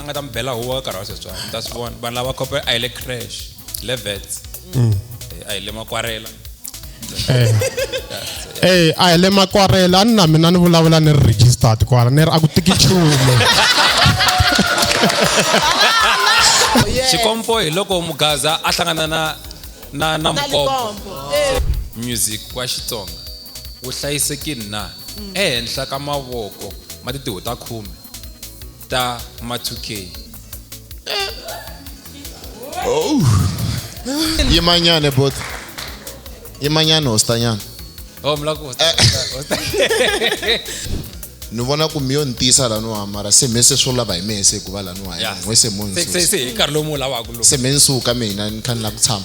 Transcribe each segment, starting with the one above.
a nga ta mi bela huwa ka karhi wa sweswiwani mi ta swi vona vanhu lava khope a hi le crash hi le vets mm. eh, a hi le makwarela eh. eh a hi le makwarela a ni na mina ni vulavula ni ri registered kwala ni ri a ku tiki nchumu xikompo hi loko mugaza a hlangana na na na mukombo eh. music wa xitsonga wu hlayisekile na mm. ehenhla ka mavoko ma titiho ta khume Star Matuke. Oh. Ye manyane bot. Ye manyane ostanyan. Oh mlako osta. ni vona ku mi yo ni tiyisa la no hamara se me se swo lava hi mehe se ku va la no haya n'we se mo ni susa se me ni suka mina ni kha ni lava ku tshama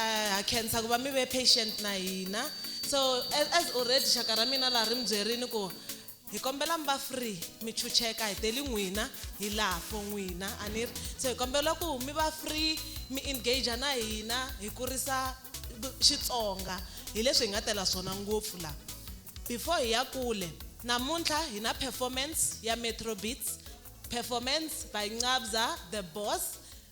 Eh, ha khensa ku va mi ve patient na hina so as, as already xaka ra mina laha ri mi byerini ku hi kombela mi va free mi chucheka hi teli n'wina hi laha for n'wina a ni ri so hi kombela ku mi va free mi engage na hina hi kurisa Xitsonga hi leswi hi nga tela swona ngopfu la before hi ya kule namuntlha hi na performance ya Metro Beats performance by Nqabza the Boss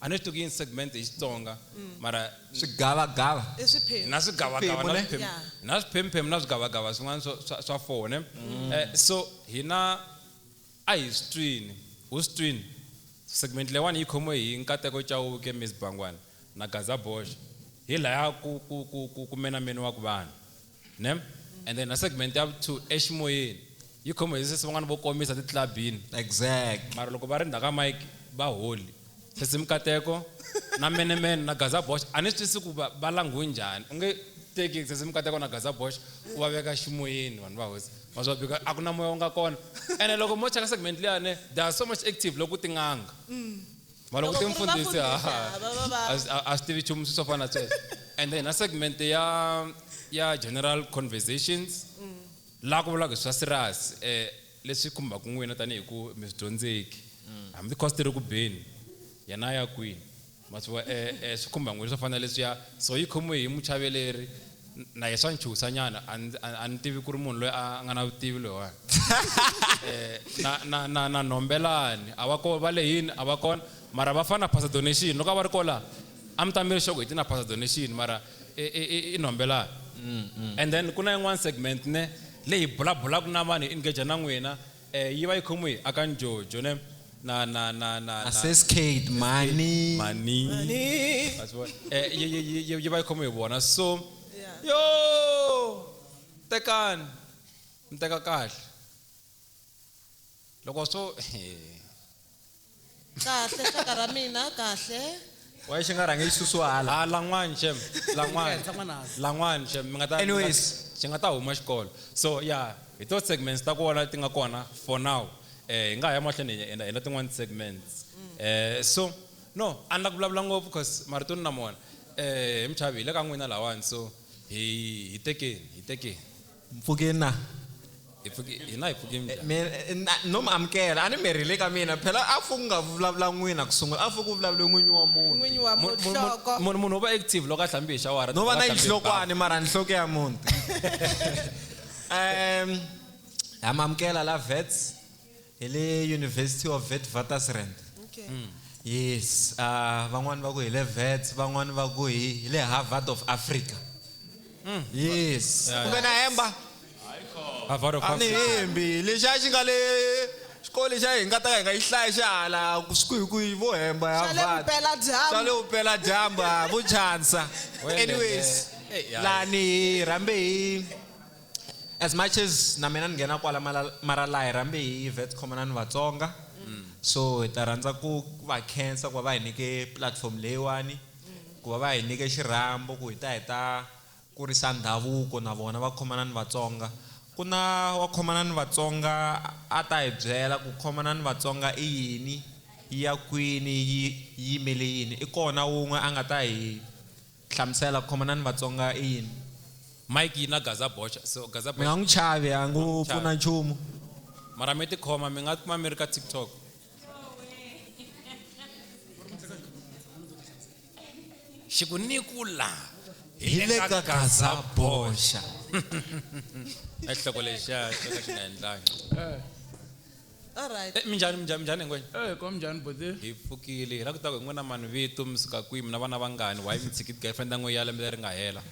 A ni swi tivi ku yini segment hi Xitsonga mara Swigavagava. I swiphemu. na swigavagava Swiphemu, na ne? swiphemu Yeah. na swiphemu-phemu na swigavagava swin'wana swa swa swa four ne Eh, so hina a hi swi twini u swi twini segment leyiwani yi khomiwe hi Nkateko Chauke, Miss Bangwana na Gaza Bosch hi laya ku ku ku ku ku menameniwaku vanhu. ne and then na segment ya two eximoyeni yi khoma hi sesi van'wana vo komisa titlabini exact mara loko va ri ndzhaka mike va holi sesi mikateko na menemene na gaza bosh a ni swi twisi ku va langhiwe njhani u nge teki sesi mikateko na gaza bosh u va veka ximoyeni vanhu va hosi ma swa bika a ku na moya u nga kona ene loko mo cheka segment liyane they are so much active loko tin'anga mm. mara Loko ku ri timfundhisi vafundhisi, ha- ha, va- va- va- a swi- a- a swi tivi nchumu swi swo fana na sweswo and then na segment ya ya general conversations laha ku vulaka hi swa serious um leswi khumbaka n'wina tanihi ku mi swi dyondzeki hambi cost ri ku beni yena a ya kwini ma swi vona um swi khumba n'wina swo fana na leswiya so yi khomiwe hi muchaveleri na ye swa ni chuhisa nyana a ni- a a ni tivi ku ri munhu loyi a a nga na vutivi loyiwani Eh, na- na- na na nhombelani a va ko va le yini a va kona mara va fana na pastor donation loko a va ri kola a mi ta mi ri xoko hi ti na pastor donation mara i- i- i- i nhombelani and then ku na yin'wana segment ne leyi bulabulaka na vanhu hi engage na n'wina E, yi va yi khomiwe hi Akan Jojo ne na na na na na Seskate mani. mani Mani. Ma swi vona? Eh, yi- yi- yi- yi- yi va yi khomiwe hi vona so Yeah. yo tekani mi teka kahle loko swo Kahle xaka ra mina kahle. Why xi nga rhangi xi susiwa hala? Ha lan'wani xem lan'wani Ehenhla n'wananga. lan'wani xem mi nga ta Anyways. xi nga ta huma xikolo so ya hi to segments ta kona ti nga kona for now eh hi nga ha ya mahlweni hi hi endla tin'wani ti-segments eh so no a ni la ku vulavula ngopfu coz marito ni na mona eh he muchavi hi le ka n'wina lawani so hi hi tekeni hi tekeni. mpfhuke na hi pfuke hina hi pfuke njhani mi eh, na- no mi amukela a ni mi rhile ka mina phela a pfuku nga vulavula n'wina ku sungula a pfuku ku vulavule n'winyi wa munhu n'winyi wa Mu- mu- mu- muhloko munhu munhu u va active loko a hlambi hi xawara no va na yihlokwani mara nhloko ya munhu um ha mi amukela la vets hi le university of witwatersrand okay. mm. yes uh, van'wani va ku hi le vets van'wani va ku hi hi le harvard of africa mm. yes kumbe na hemba a ni hembi lexi a xi nga le xikolo xa hi nga ta ka hi nga yi hlaya xihala kuhikuhi vo hemba ya xa le vupela dyambu vo chansa anyways lani hi rhambe hi As much as na mina ni nghena kwala mara laha hi rambe hi Wits Common ni Vatsonga so hi ta rhandza ku va khensa ku va va hi nyike platform leyiwani ku va va hi nyike xirhambo ku hi ta hi ta kurisa ndhavuko na vona va khomana ni Vatsonga ku na wa khomana ni Vatsonga a ta hi byela ku khomana ni Vatsonga i yini yi ya kwini yi yimele yini i kona wun'we a nga ta hi Hlamusela, ku khomana ni Vatsonga i yini? Mike yi na gaza boxa so gaza boxa. Mi nga n'wi chavi a ngo pfuna nchumu. Mara mi ti khoma mi nga kuma mi ri ka TikTok. Xi ku ni ku la hi le ka gaza boxa. Ai xihloko lexiya xo ka xi nga endlangi. Alright. Eh, minjhani minjhani minjhani ngwenya Eh, kom njhani bhuti? hi pfukile hi la ku ta ku hi n'wina mani vito mi suka kwihi mi na vana vangani why mi tshikiti girlfriend ya n'we ya lembe leri nga hela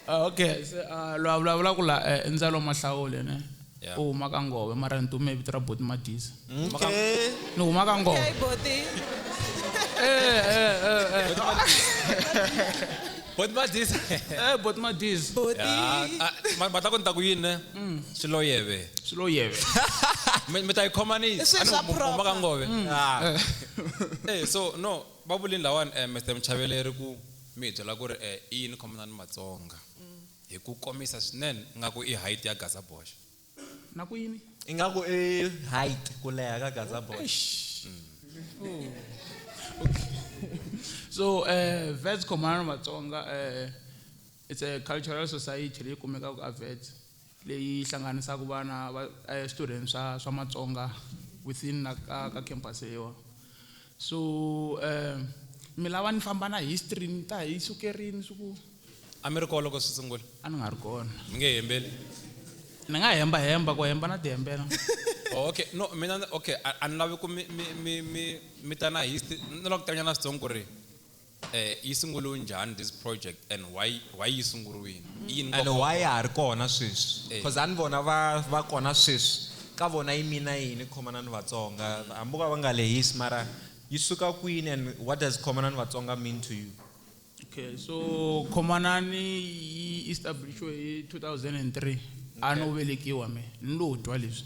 Ah, okay se ah, loyi a vulavulaka la eh, i ndzalo mahlawule ne Yeah. u huma ka ngove mara ni tume hi vito ra boti madisa Okay. ni huma ka ngove Okay, Boti. Eh, eh, eh, eh. boti madisa Eh, boti madisa Boti. ma ta ku ni ta ku yini ne mm. swiloyeve swiloyeve mi ta yi khomanisa se swa proper ka ngove mm. ah. eh. eh so no va vulini lawani eh, Mr Mchaveleri ku mi byela ku ri eh, i yini khomana ni Matsonga mm. hi ku komisa swinene nga ku i height ya Gaza Bosch na ku yini ingaku i height ku leha ka Gaza Bosch mm. so eh vets khomana ni Matsonga eh It's a cultural society leyi kumekaka a Wits leyi yi hlanganisaka vana va eh, swichudeni swa swa Matsonga within na ka, ka campus leyiwa so eh, mi lava ni famba na history ni ta hi sukerini swi ku a mi ri kona loko swi sungula a ni nga ri kona mi nge hembeli ni nga hemba hemba ku hemba na tihembela Oh, okay no mina ni- okay a a ni lavi ku mi mi mi mi mi ta na history ni lava ku tivanyana switsongo ku ri Yi sunguriwe njhani this project and why why yi sunguriwini? I yini nkoka wa kona? And why ya ha ri kona sweswi? Coz a ni vona va va kona sweswi. Ka vona yi mean yini Khomana ni Vatsonga? Hambi vo ka va nga lehisi mara yi suka kwini and what does Khomana ni Vatsonga mean to you? Okay, so Khomanani yi establish-we hi 2003. A no velekiwa me ni lo twa leswi.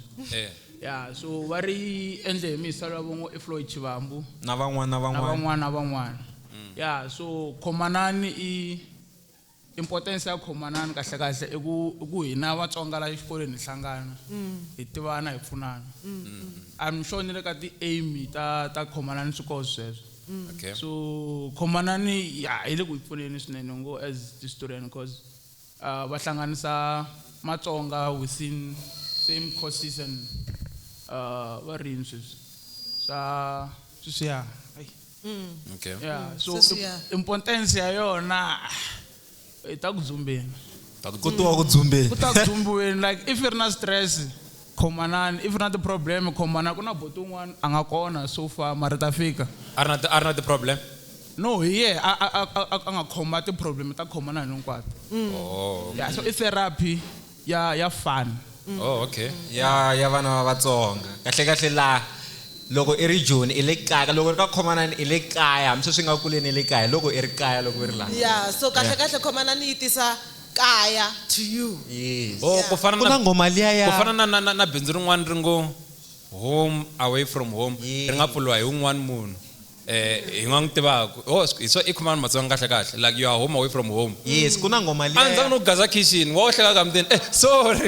Ya, so va ri endle hi misa lava vo ngo i Floyd Chivambu. Na van'wana na van'wana. Na van'wana na van'wana. Ya, so Khomanani i, importance ya Khomanani kahle kahle i ku, i ku hina Vatsonga la xikolweni hi hlangana, hi tivana, hi pfunana. I'm sure ni le ka ti aim ta, ta Khomanani swi koho sweswo. Okay. So Khomanani ya, yi le ku hi pfuneni swinene ngo as historian coz. va hlanganisa matsonga within same course season va rini sweswi swa sweswiya ai Okay. yeah Mm, so sweswiya. im- importance ya yona hi ta ku dzumbeni Ku tiwa ku dzumbeni. ku ta ku dzumbiweni like if i ri na stress Khomanani if u ri na ti problem khomana ku na buti un'wana a nga kona so far mara hi ta fika. A ri na ti a ri na ti problem? No hi yehe a a a a a nga khoma ti problem ta khomanani hinkwato. Oh. Yeah so i therapy ya ya fun. Oh okay. Ya ya vana va Vatsonga. Kahle kahle la loko i ri Joni i le kaya loko u ri ka khomanani i le kaya hambi sweswi i nga kuleni i le kaya hi loko i ri kaya loko i ri la. Yeah so kahle kahle khomanani yi tisa. kaya to you. Yes. Oh, ku fana Ku na na nghoma liya ya- ku fana na na na na bindzu rin'wana ri ngo home away from home ri nga pfuriwa hi un'wana munhu eh hi nga n'wi tivaku oh swi- hi swo i khumani matsonga kahle kahle like you are home away from home yes ku na nghoma a liya ndza ya- no gaza kitchen wa ohleka ka mutini eh sorry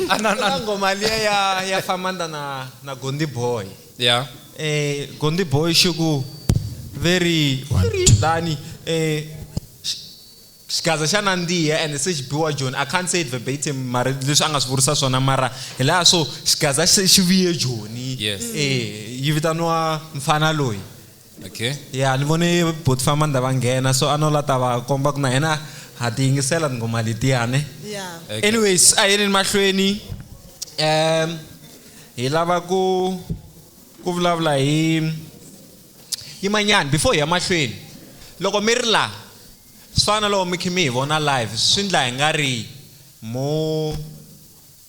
a na ku na na nghoma liya ya ya famanda na na gondi boy yeah eh gondi boy xiku very very dani eh xigaza xa nandziha and se xi biwa joni i can't say it verbatim mara leswi a nga swi vurisa swona mara hi laha so xigaza xi viye joni yes. e yi vitaniwa mfana loyi okay ya ni vone boti famba ni va nghena so a no la ta va komba ku na hina ha ti yingisela tinghoma letiyani yeah. okay. anyways a yeni mahlweni um hi lava ku ku vulavula hi yimanyani before hi ya mahlweni loko mi ri laha Swi fana na loko mi kha mi hi vona live swi ndla hi nga ri mo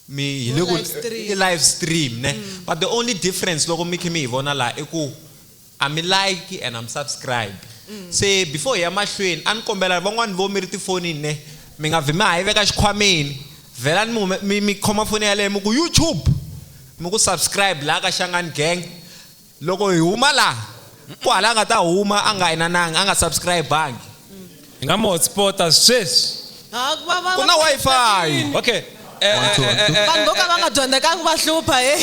mi hi le ku i live stream ne mm. but the only difference loko mi kha mi hi vona la i ku a mi like and am subscribe mm. se before hi ya mahlweni a ni kombela van'wani vo mi ri tifonini ne mi nga vi mi ha yi veka xikhwameni vhela ni mi mi khoma foni yaleyo mi ku youtube mi ku subscribe laha ka xangani gang Loko hi huma laha, ku hava la a nga ta huma a nga inanangi, a nga subscribe-angi. Hi nga mi hotspot-a sweswi. Ku na Wi-Fi. Okay. One, two, one, two. Vanhu vo ka va nga dyondzekanga va hlupha, hey.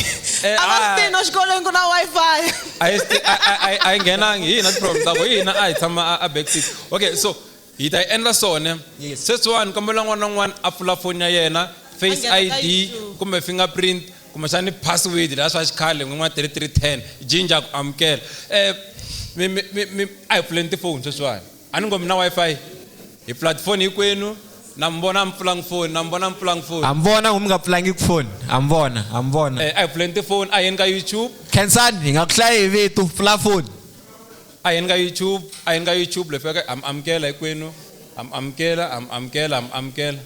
A va swi tivi no xikolweni ku na Wi-Fi. A yi swi tivi, a yi nghenangi. Hi hina ti-problem ta kona. Hi hina a hi tshama a back seat. Okay, so. Hi ta yi endla swona. Yes. Sweswiwani kombela n'wana na n'wana a pfula foni ya yena, Face A nghena ka ID YouTube. kumbe fingerprint kumbexani password laha swa xikhale n'winyi wa 3310 jinja ku amukela. Eh mi mi mi mi a hi pfuleni tifoni sweswiwani. A ni ngo mi na Wi-Fi? Hi pfula tifoni hinkwenu, na mi vona mi pfulanga foni, na mi vona mi pfulanga foni. Ha mi vona ku mi nga pfulangiki foni? Ha mi vona, ha mi vona. Eh a hi pfuleni tifoni, a hi yeni ka YouTube. Khensani hi nga ku hlayi hi vito, pfula foni. A hi ni ka YouTube, a hi ni ka YouTube le feke ham amukela hikwenu ham amukela ham amukela ham amukela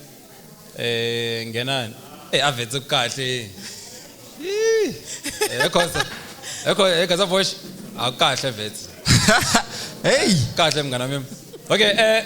e nghenani e a vhetse ku kahle yii e khoza e khoza e khoza voice a kahle vhetse hey kahle mngana mim okay e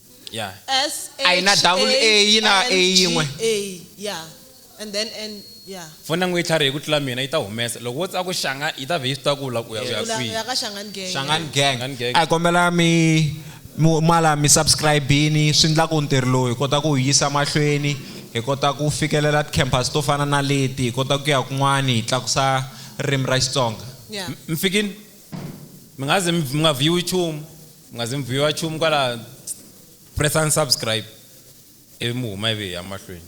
yeah S H A ina double A ina A yin'we A yeah and then and yeah fona n'wi tlharihe ku tlula mina yi ta humesa loko wo tsaka ku xanga yi ta vhe yi swi ta ku la ku ya ku ya kwihi ya ka Shangan gang Shangan gang Shangan gang a kombela mi mala mi subscribe-ini swi ndla ku ntirho lowu hi kota ku wu yisa mahlweni hi kota ku fikelela ti-campus to fana na leti hi kota ku ya kun'wana hi tlakusa ririmi ra Xitsonga mi fikini mi nga zi mi nga vhiwi chumu mi nga zi mi vhiwa chumu kwala pressani subscribe ivi mi huma ivi hi ya mahlweni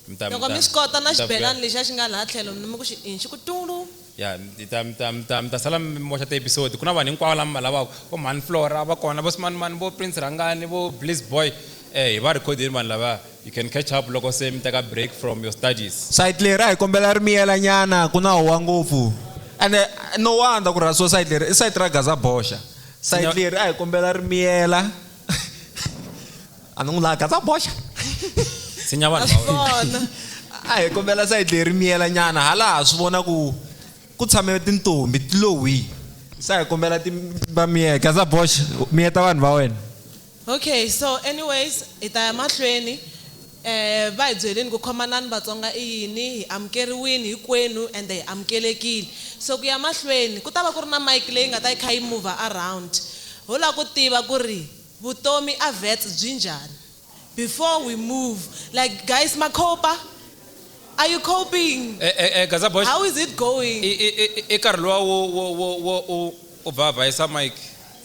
mi ta Loko mi swi kota na xibelani lexiya xi nga laha tlhelo mi ku xi inci ku tulu. Ya mi ta mi ta mi ta mi ta sala mi moxa ti episode ku na vanhu hinkwavo lava mi va lavaka vo mhani Flora va kona vo smanimani vo Prince Rhangani vo Bliss boy hi va record-ini vanhu lavaya. You can catch up loko se mi teka break from your studies. Side leri a hi kombela ri miyela nyana ku na howa ngopfu. Ene no wonder ku rhasiwa side leri i side ra Gaza boxa. Side leri a hi kombela ri miyela. A ni n'wi lavi Gaza boxa. Tshinya vanhu va wena. A hi kombela side leri ri miyela nyana hala ha swi vona ku ku tshame tintombhi ti lo hwii. Se a hi kombela ti va miyela. Gaza boxa miyeta vanhu va wena. Okay so anyways hi ta ya mahlweni eeh va hi byelini ku khomanani Vatsonga i yini, hi amukeriwini hikwenu ende hi amukelekile so ku ya mahlweni ku ta va ku ri na mic leyi nga ta yi kha yi mover around ho la ku tiva ku ri vutomi a Wits byi njhani before we move like guys ma cope-a are you coping E-e-e Gazabosh how is it going? I-i-i-i karhi luwa wo wo wo wo u. U ba vhaisa Mike.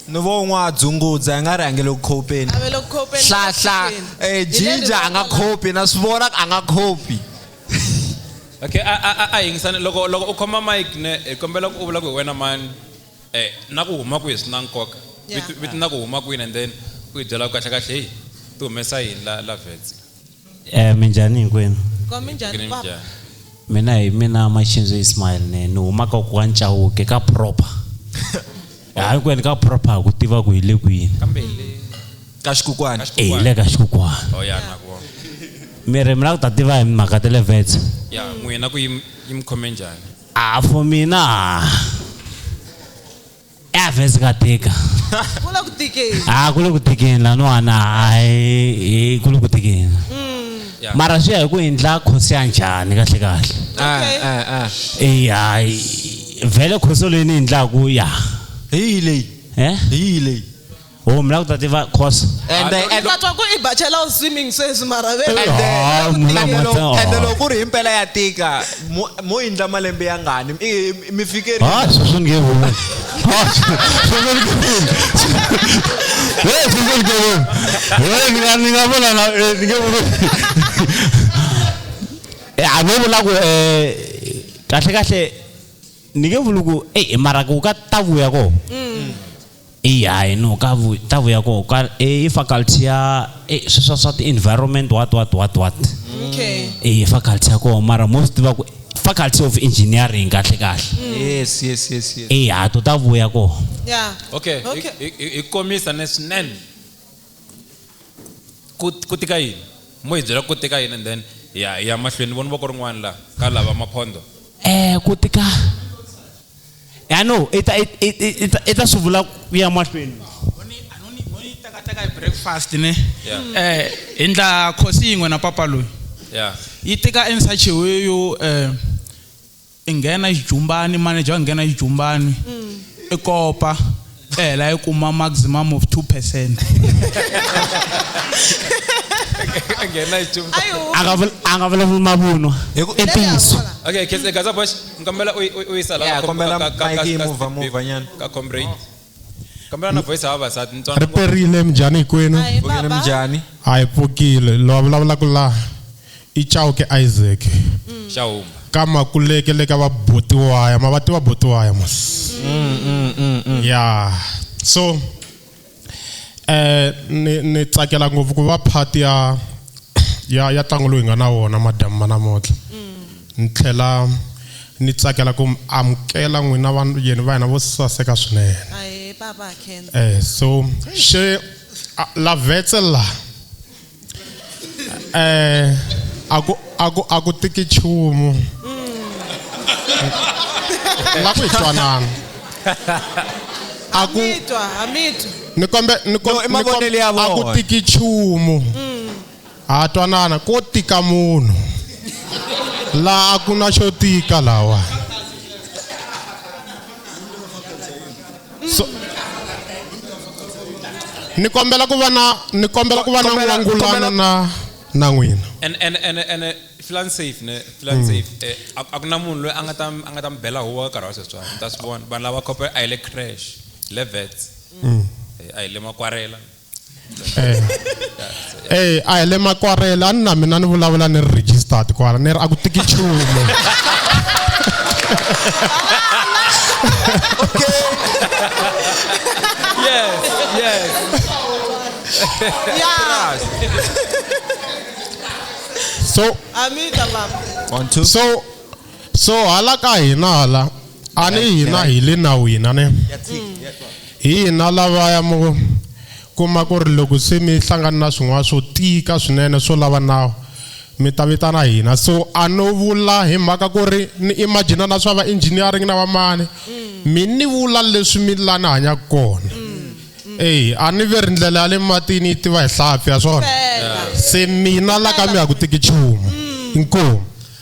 Ni vo n'wa dzungudza i nga ri a nge le ku khopeni. A ve le ku khopeni. Hlahla, e, Jinja a nga khopi, na swi vona ku a nga khopi. Okay, a, a, a, a yingisani. Loko, loko u khoma Mike ne, hi kombela ku u vula ku hi wena mani, e, na ku huma kwihi swi na nkoka. Vito, vito na ku huma kwini and then u hi byela ku kahle-kahle, heyi, ti humesa yini la, la Wits la. Eh, minjhani hinkwenu Kwa minjhani Green papa? Jar. mina hi mina maxinzo ismail ne ni humaka ku wa ncawuke ka proper hayi kwene ka proper ha ku tiva ku hi le kwini kambe hi le ka xikukwana e hi le ka xikukwana oh ya na ku mi ri mi lava ku ta tiva hi mhaka ta le vets ya n'wina ku yi yi mi khome njhani a for mina eavhesi ka tika kule ku tikeni ha ah, kule ku tikeni laniwana hayi kule ku tikeni mm. mara swi ya hi ku endla khosi ya njhani kahle kahle ah, ah, e vhele khoso leyi ni endlaku ya hi leyi hi leyi Oh, mna kutata iva course. And the- and- vhathu aku i bachelor of swimming sweswi mara ve and the- Ah, and mna the mata- loko- and the oh. loko ku ri hi mpela ya tika mo- mo yindla malembe ya ngani I- i- mi fikeri Ah, sweswi ni nge voni. Ah, sweswi ni nge voni. Eh, sweswi ni nge voni. Eh, ni nga- ni nga vona na- eh, ni nge voni. Eh, a vo vula ku eh, kahle kahle ni nge vuli ku eyi mara ku ka ta vuya ko eyi hayi no ka vu ta vuya koho ka e, i faculty ya e, sweswa swa ti-environment what what what what okay e faculty ya koho mara mo swi tiva ku faculty of engineering kahle kahle yes yes yes yes e hato ta vuya koho yeah okay okay hi- hi hi- hi komisa ne swinene ku tika yini mo hi byela ku tika yini and then ya ya mahlweni vona voko rin'wana la ka lava maphondo eh ku tika ya no i ta i ta swi vula ku ya mahlweni takataka hi breakfast ne eh hi ndla khosi yin'we na papa loyi yi tika ensacheweyo um eh, i nghena xijumbani manager a nghena xijumbani i kopa i hela i kuma maximum of 2 percent a nga vulavuli mavunwa i ntiyiso okay khese gaza bosh ngikombela u yi sala ka comrade kambela na voice ya vavasati ni ri perile minjhani hikwenu Hi Pfukile baba. minjhani a hi pfukile loyi a vulavulaka laha i chauke isaac xa huma ka makuleke le ka vabotiwaya ma va tiva botiwaya mos ya so eh ni ni tsakela ngopfu ku va part ya ya ya ntlangu lowu hi nga na wona madamu ma namuntlha ni tlhela Ni tsakela ku mi amukela n'wina va yeni va hina vo saseka swinene. Ahe baba Ken. Eh so she la vetse la eh aku aku aku tiki chumu. La ku twanana. Aku Mitwa, ha mitwa. Ni kombe ni kombe aku tiki chumu. Ha twanana ko tika munhu laha a ku na xo tika lawa so, ni kombela ku va na ni kombela ku va na n'wangulano na na n'wina and and and and filan safe ne filan hmm. safe eh, a ku na munhu loyi a nga ta a nga ta mi bela huwa nkarhi wa sweswiwani mi ta swi vona vanhu lava khope a hi le crash hi le vets hmm. eh, a hi le makwarela eh eh a hi le makwarela a ni na mina ni vulavula ni ri registered kwala ni ri a ku tiki nchumu yes yes yeah so amita baba one two so so hala ka hina hala a ni hina hi le nawini a ni hi hina lavaya mo kuma ku ri loko se mi hlangana na swin'wana swo tika swinene swo lava nawu mi ta vitana hina so a no vula hi mhaka ku ri ni imagina na swa va engineering na vamani mi ni vula leswi mi la ni hanyaka kona eyi a ni ve ri ndlela ya le matini yi tiva hi hlampfi ya swona se mina la ka mi ya ku tiki nchumu inkomu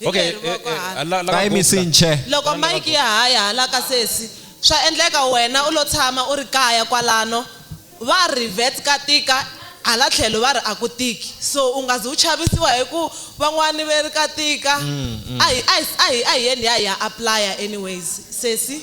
Hi Okay, leri eh, voko eh, hala. la- la- ka yimisi la- nche loko mike ya ha ya hala ka sesi swa endleka wena u lo tshama u ri kaya kwalano va ri vet ka tika hala tlhelo va ri a ku tiki so u nga zi u chavisiwa hi ku van'wani ve ri ka tika a hi a hi a hi a hi yeni hi ya hi ya aplaya anyways sesi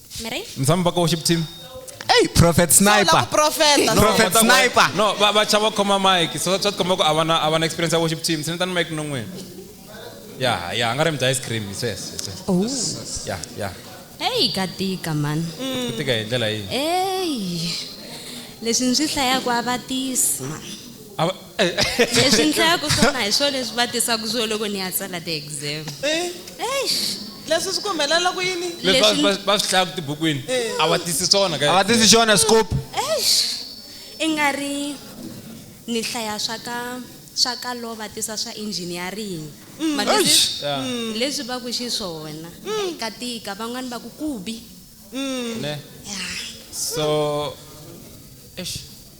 Mary? msami mpaka worship team Hey, prophet Sola sniper. kuprofeta. No, Prophet but that one- sniper. no va- vacha va khoma mike so swa tikomba ku a va na- a va na experience ya worship team sini tani mike non'wini ya ya a nga ri mi dya ice cream sweswo Oh. ya ya Hey, ka tika man. ku tika hi ndlela yihi Hey. Leswi ndzi hlayaka a va tisi man. A va- Leswi ndlaku swona hi swona leswi va tisaku swo loko ni ya tsala ti-exam. Eh. Eish! Leswi swi ku humelela ku yini? Leswi va va va swi hlayaku tibukwini a va tisi swona ka. A va tisi xona scope. Eish! I nga ri ni hlaya swa ka swa ka law va tisa swa engineering. Ma twisisa? Eish! Ya. Hi leswi va ku xiswona. Ka tika van'wani va ku ku bi. Ne? Ya. So eish!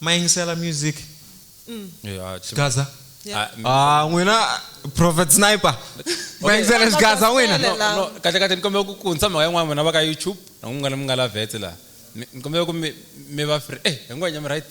mayingisela music Yeah, chim- gaza Yeah. Ah, mi- ah n'wina prophet sniper mayingisela Gaza xigaza n'wina Sele. No, no, kahle kahle ni kombela ku kuntsa mhaka yin'wana n'wina va ka youtube na ku mi nga na mi nga la vetse laha Mi- ni kombela ku mi mi va free eh hinkwanya mi right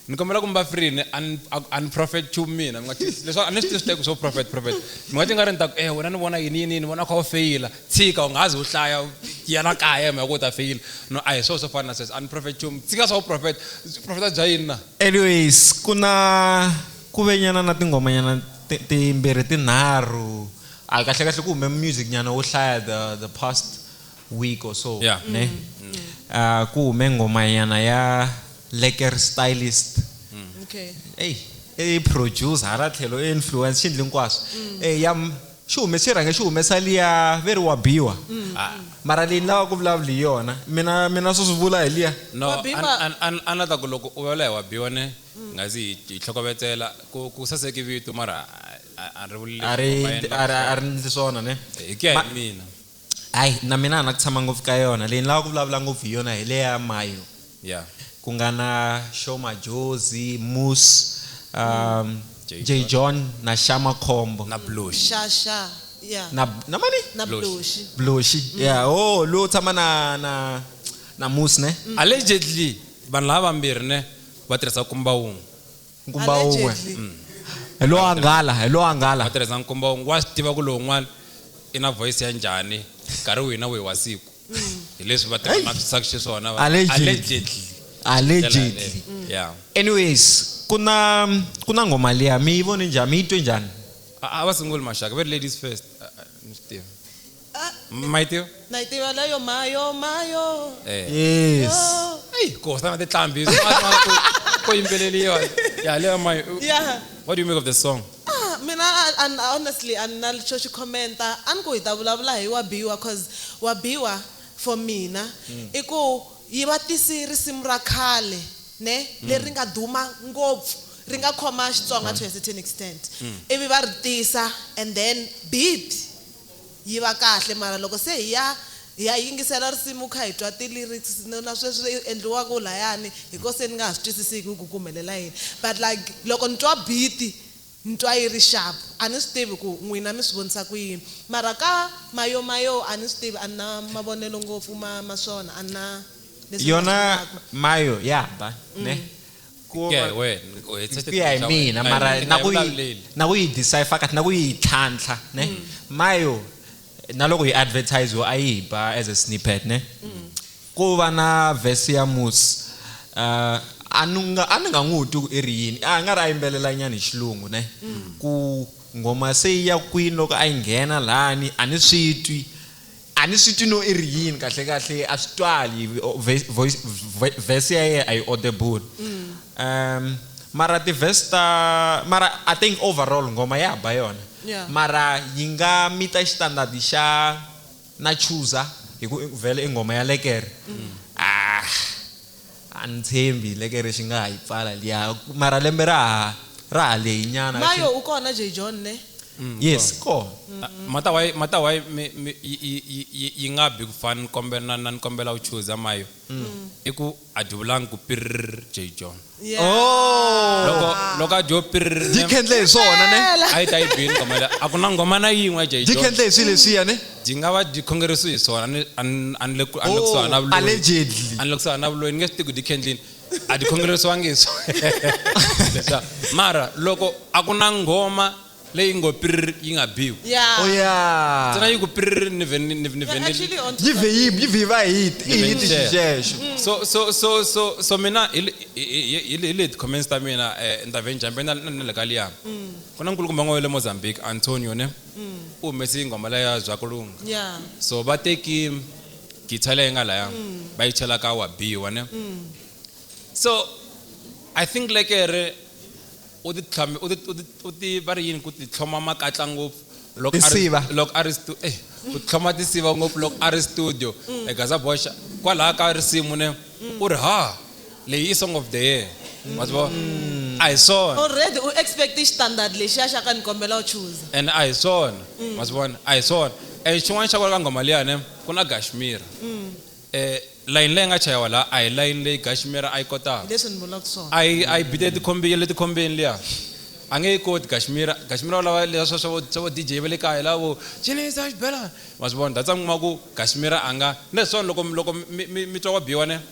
ni kombela ku mi va free ni a ni- a- a ni prophet chu mina mi nga ti- leswaku a ni swi tivi swi teki swo prophet prophet mi nga ti nga ri ni ta ku eh wena ni vona yini yini yini vona u kha u feyila Tshika, u nga ha zi u hlaya, u ya la kaya hi mhaka ku u ta feyila. No, a hi swona swo fana na sweswo. A ni profeti nchumu. Tshika swa vuprofeta. Vuprofeta bya yini na? Anyways, ku na ku ve nyana na tinghomanyana timbirhi tinharhu. A kahlekahle ku hume music nyana wo hlaya the the past week or so, ne? A ku hume nghoma nyana ya Lekker Stylist. Ey, i producer hala tlhelo i influencer, xi ndli hinkwaswo. Ey, ya. xi humesi xi rhange xi humesa liya ve ri wa biwa mm. ah, mara leyi ni lava ku vulavula hi yona mina mina swo swi vula hi liya no a na ta ku loko u vulavula hi wa biwa ne mm. nga zi hi tlhokovetsela ku saseki vito mara a ri vuleli a ri ndli swona ne hi ku ya hi mina Hayi na mina a na ku tshama ngopfu ka yona leyi ni lava ku vulavula ngopfu hi yona hi le ya Mayo yeah ku nga na Show Majozi Moose um, mm. J John, J John na Shama Khombo na Blush Shasha yeah na na mani na Blush Blush mm. yeah oh lo tshama na na na Moose ne mm. allegedly vanhu lava vambirhi ne va tirhisa kumba wun'we nkumba wun'we mm. hi lowo angala hi lowo angala va tirhisa nkumba wun'we wa swi tiva ku lowun'wana i na voice ya njhani nkarhi wihi na wihi wa siku mm. hi leswi va tirhanakisaka xiswona allegedly allegedly yeah anyways ku na ku na ngoma liya mi yi vone njhani mi yi twe njhani a va sunguli maxaka va ri ladies first ni swi tiva maitiwa naitiva layo mayo mayo eh yes Hey, Costa na titlambi ko yimbeleliwa ya leyo my ya what do you make of the song Ah, mina a- a- a- honestly a ni na xo xi commenta a ni ku hi ta vulavula hi wa biwa cause wa biwa for mina i ku yi va tisi risimu ra khale ne leri nga duma ngopfu ri nga khoma xitsonga to a certain extent ivi va ri tisa and then beat Yi va kahle mara loko se hi ya hi ya yingisela risimu kha hi twa ti lyrics na sweswi endliwaku layani hi ko se ni nga ha swi twisisiki ku ku humelela yini but like loko ni twa beat ni twa yi ri sharp a ni swi tivi ku n'wina mi swi vonisa ku yini mara ka mayo mayo a ni swi tivi a ni na mavonelo ngopfu ma ma swona a ni na leswi ni nga swi Yona vulaku. mayo ya ba ne. ku ya hi wena ku ya hi mina mara na ku yi na ku yi decipher kahle na ku yi tlhantlha ne mm. mayo na loko yi advertise yo a yi ba as a snippet ne mm. ku va na verse ya mus uh, a ni nga a ni nga n'wi twi ku i ri yini a nga ri a yimbelela nyana hi xilungu ne mm. ku ngoma se yi ya kwini loko a yi nghena lani a ni swi twi A ni swi twi no i ri yini kahle-kahle, a swi twali, verse ya yena a yi audible. Um, mara ti-verse ta, mara I think overall nghoma ya ba yona. Mara yi nga meet-a xitandard xa Na Chooser hi ku vhele i nghoma ya lekere. Aah. A ni tshembi leke ri xi nga ha yi pfala liya mara lembe ra ha ra ha lehi nyana. Mayo u kona Jay John ne? Yes i kona. Mata why mata why mi mi yi yi yi yi yi nga bi ku fan ni kombe na na ni kombela u chuza Mayo i ku a dyi vulangi ku pirrr Jay John loko loko a dyo pirrr ne Dyi khendle hi swona ne? a yi ta yi bini nghoma liya a ku na nghoma na yin'we ya Jay John Dyi khendle hi swi leswiya ne? Byi nga va byi khongerisiwe hi swona. A ni, a ni, a ni le ku, a ni le kusuhana na Oh, vuloyi. allegedly. A ni le kusuhana na vuloyi, ni nge swi tivi ku byi khendlini. A byi khongerisiwangi hi swona. Leswa, mara loko a ku na nghoma leyi ngo pirr yi nga biwi. Yeah. Oh, yeah. Ntsena yi ku pirr ni vhe ni, ni, ni vhe Yeah, ni. actually on Yi vhe yi, yi vhe yi va hi, hi, Ni vhe hi ni ti share. xixexo. So, so, so, so, so mina hi, le- hi, hi, hi, hi, le- hi le ti-comments ta mina, eh, ni ta vhe ni jump-a na, na, na le ka liya. Ku na nkulukumba un'we wa le Mozambique, Antonio ne. u humesi nghoma leya ya Byakulunga. Yeah. So va teki guitar leyi nga laya va yi chela ka wa B wa ne. So I think lekere u ti tlhame u ti u ti u ti va ri yini ku ti tlhoma makatla ngopfu loko a ri Tinsiva. loko a ri stu eh ku tlhoma tinsiva ngopfu loko a ri studio. Gaza Boxa kwalaya ka risimu ne u ri ha. leyi i song of the year wa swi vona mm. a hi swona already u expect xitandard lexiya xa ka ni kombela u chuza and a hi swona mm. wa swi vona a hi swona and eh, xin'wana xa kona ka nghoma liyane ku na gashmira um layini leyi nga chayiwa laha a hi layini leyi gashmira a yi kotaka leswi ni vulaka swona a yi a yi bite tikhombile le tikhombeni liya a nge yi koti gashmira gashmira u lava leswa swa swa vo dj va le kaya lavo cinisa xibelana wa swi vona datsa mi kuma ku gashmira a nga ni leswona loko loko mi twa wa biwa ne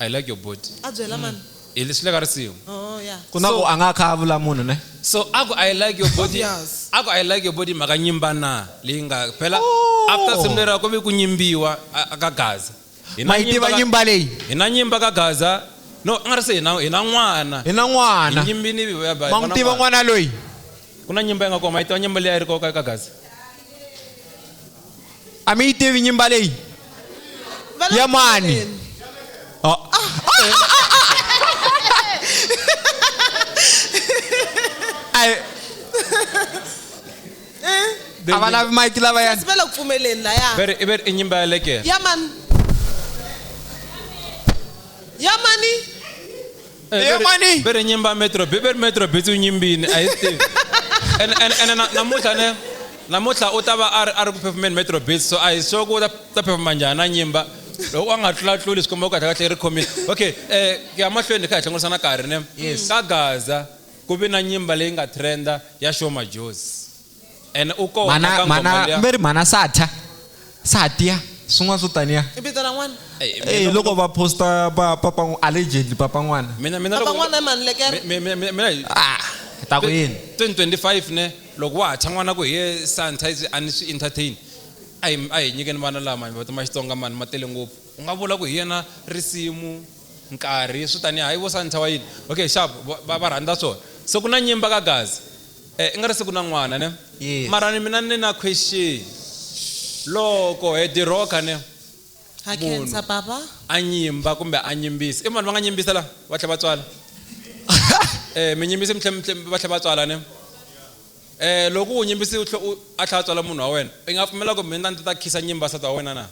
I like your body. a byela mani Hi leswi le ka risimu. oh ya ku na So- ku a nga kha a vula munhu ne So a ku I like your body. Obvious. A ku I like your body mhaka nyimba na leyi nga phela Oh. after simu lera ku ve ku nyimbiwa a- a ka Gaza. Hi na ma yi tiva ka- nyimba leyi Hi na nyimba ka Gaza. No, a nga ri se hi na hi na n'wana. hi na Hi n'wana nyimbini hi va- va- ma n'wi vona tiva n'wana. n'wana loyi Ku na nyimba yi nga koma, hi tiva nyimba leyi a yi ri koka eka Gaza. a mi yi tivi nyimba leyi ya mani Oh. Ai, a va lavi mike lavayani sivela ku pfumeleni laya Veri, i veri, i nyimba ya lekere. ya mani ya mani Eh, Eya bere- mani. bere nyimba metro bi bere metro bi tsu nyimbini a hi swi tivi ene ene- ene na- namuntlha ne namuntlha u ta va a ri- a ri ku phefumeni metro bits so a hi sure ku u ta ta phefuma njhani na nyimba loko a nga tlula tluli swi komba ku kahle kahle i ri khomile okay um ku ya mahlweni kha hi hlengurisa na karhi ne ka gaza ku vi na nyimba leyi nga trenda ya show majozi And u kona mana ka ngoma mana liya. mi ri mana satya satya swin'wana swo taniya i vito ra n'wana Ey, mina Eh, loko- loko va posta pa papa n'w- allegedly papa n'wana mina mina papa loko- n'wana i mani lekere mi- mi- mi- mina hi- ah ta ku yini 2025 ne loko wa ha thya n'wana ku hi ye santa izi a ni swi entertain a hi a hi nyikeni vana lama hi ma xitsonga mani ma tele ngopfu u nga vula ku hi yena risimu nkarhi swi taniya hayi vo santa wa yini okay sharp va- va va rhandza swona se ku na nyimba ka gazi Eh, i nga ri siku na n'wana ne Yes. mara ni mina ni na question loko he diroka ne Ha Munhu. khensa baba. a nyimba kumbe a nyimbisa i vanhu va nga nyimbisa la va tlhe va tswala eh mi nyimbisi mi tlhe mi tlhe- va tlhe va tswala ne eh loko u nyimbisi u tlhe u a tlhe a tswala munhu wa wena i nga pfumela ku mina ndzi ta khisa nyimba sata wa wena na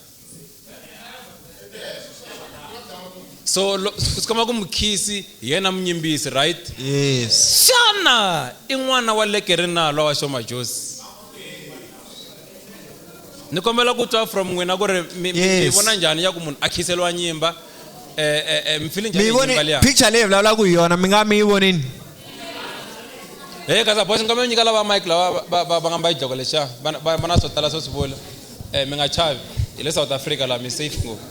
so lo- swi komba ku mukhisi hi yena munyimbisi right yes xana i n'wana wa lekeri na lowa wa xoma josi ni kombela ku twa from n'wina ku ri mi mi- mi Yes. vona njhani ya ku munhu a khiseliwa nyimba eh, eh, eh, mi file njhani mi hi nyimba voni liya picture leyi vulavulaka hi yona mi nga mi yi vonini he kasi bosi nkombela nyika lava mike lava va- va va nga mba xidloko lexiya va va- va na swo tala swo swi vula Eh, mi nga chavi hi le south africa laha mi safe ngopfu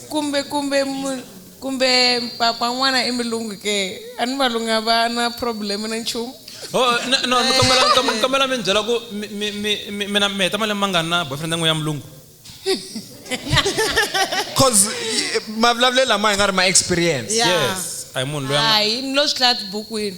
kumbe kumbe kumbe papa n'wana i milungu ke a ni valungu a va na problem na nchumu oh, no mi kombela mi ni byela ku mina mi heta malembe mangani na boyfriend yan'we ya mulungu cause mavulavulelo lama hi nga ri ma experience yes a hi munhu loyi a hi ni lo swi hlaya tibukwini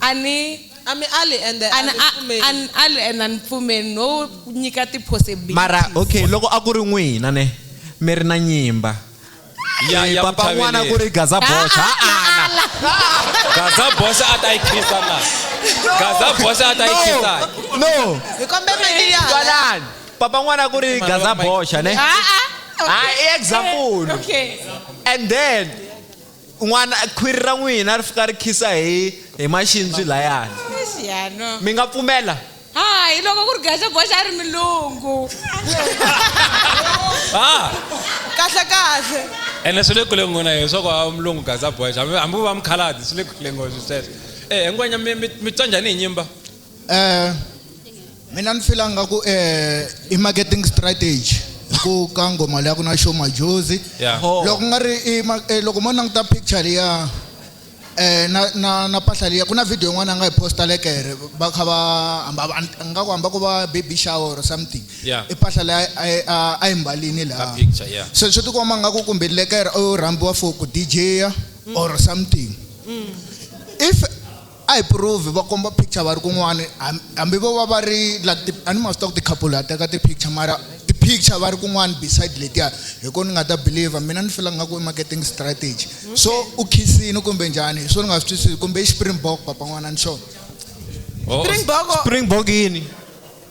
A ni ali ende a ni pfumeli. A ni ali ende a ni pfumeli no nyika ti possibilities. Mara ok loko a ku ri n'wina ne mi ri na nyimba Ya ya papa n'wana muchaveleri. ku ri Gaza Bosch Haa, haa na na ala. Gaza Bosch a ta yi khiza na. Gaza Bosch a ta yi khiza. No. Hi kombe mic ya hala. Twalani. Papa n'wana ku ri Gaza Bosch ne. Haa. Haa i example. Okay. And then. un'wana khwiri ra n'wina ri fika ri khisa hi hi maxindzwi layani mi nga pfumela hayi loko ku ri geze boxa a ri milungu ah. kahle kahle ene swi le kule ngona hi swa ku a mulungu gaza boxa hambi va mukhaladi swi le kule ngoswi sweswo e eh, ngwenya mi twa njhani hi nyimba Eh mina ni fila nga ku eh i marketing strategy ku ka ngoma leyi ku na show majozi yeah. Oh. loko nga ri eh, loko mo languta picture liya eh na na na pahla liya ku na video yin'wana a nga yi posta lekere ba kha ba hamba nga ku hamba ku va baby shower or something yeah. i pahla leyi a yi mbalini laha yeah. so swi tikomba nga ku kumbe lekere u rhambiwa for ku dj or something mm. if A hi prove, va komba picture va ri kun'wani hambi vo va va ri like ti, a ni ma swi tiva ku ti-couple ha teka ti-picture mara ti-picture va ri kun'wani beside letiya hi kona ni nga ta believer mina ni fila nga ku i marketing strategy so u khisini kumbe njhani hi swo ni nga swi twisisi kumbe i xi-springbok papa n'wana ni xona Springbok o- Springbok yini?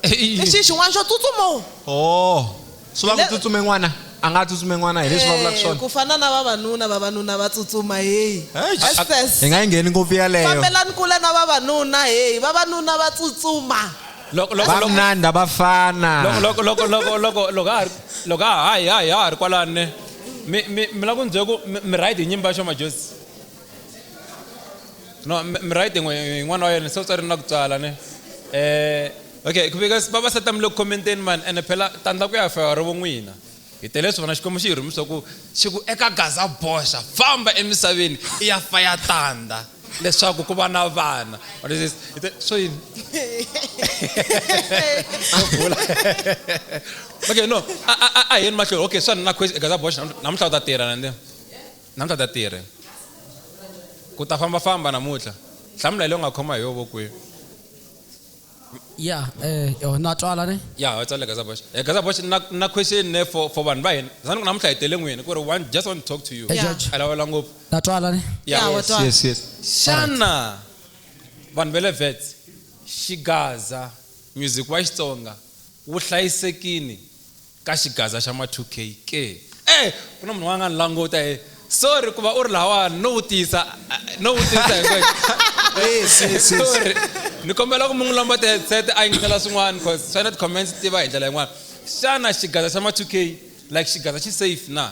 Eyi. lexi i xin'wana xo tsutsuma o Oh. Swi va ku Hi le- tsutsume n'wana. A nga tsutsume n'wana hi leswi vulavulaka Eh, swona. ku fana na vavanuna vavanuna va tsutsuma heyi Hey, Hi access nga yi ngheni ngopfu yaleyo. fambelani kule na vavanuna heyi vavanuna va tsutsuma Loko loko loko Vamnanda va fana. loko loko loko loko loko ha ha ri loko ha ha hi ha hi ha ha ri kwalani mi mi mi la ku ni byela ku mi mi right hi nyimba xo majozi. no m- m- right n'we hi n'wana wa yena se u tswari na ku tswala ne eh okay because vavasati mi le ku commenteni mani ene phela tandla ku ya fewa ri vun'wina hi tele swi vona xikwembu xi hi rhumisa ku xi ku eka gaza boxa famba emisaveni i ya fa ya tandza leswaku ku va na vana What is this? Hi te- so yini okay no a- a a- a hi yeni mahlweni okay swa ni na question gaza boxa namuntlha u ta tirha nande Namuntlha ta tirhe? Ku ta famba famba namuntlha? Hlamula hi leyi u nga khoma hi yo vokweni. Yeah, eh, oh, na twala ne? Yeah, ho tsale Gaza Bosch. Eh, Gaza Bosch, na, na question ne for, for vanhu va hina. Zani ku namuntlha hi tele n'wini, ku ri one, just want to talk to you. Yeah. Judge. A lawula ngopfu. Na twala ne? Yeah, Yeah, wa yes, twala. yes, yes. Xana vanhu va le Wits, Xigaza, music wa Xitsonga wu hlayisekini Ka xigaza xa ma 2K ke? Eeh ku na munhu un'wana a nga ni languta he sorry ku va u ri lahawani no vutisa no vutisa sorry ni kombela ku mi n'wi lomba ti headset a yingisela swin'wana coz swi endla ti comments ti va hi ndlela yin'wana xana xigaza xa ma 2K like xigaza xi safe na?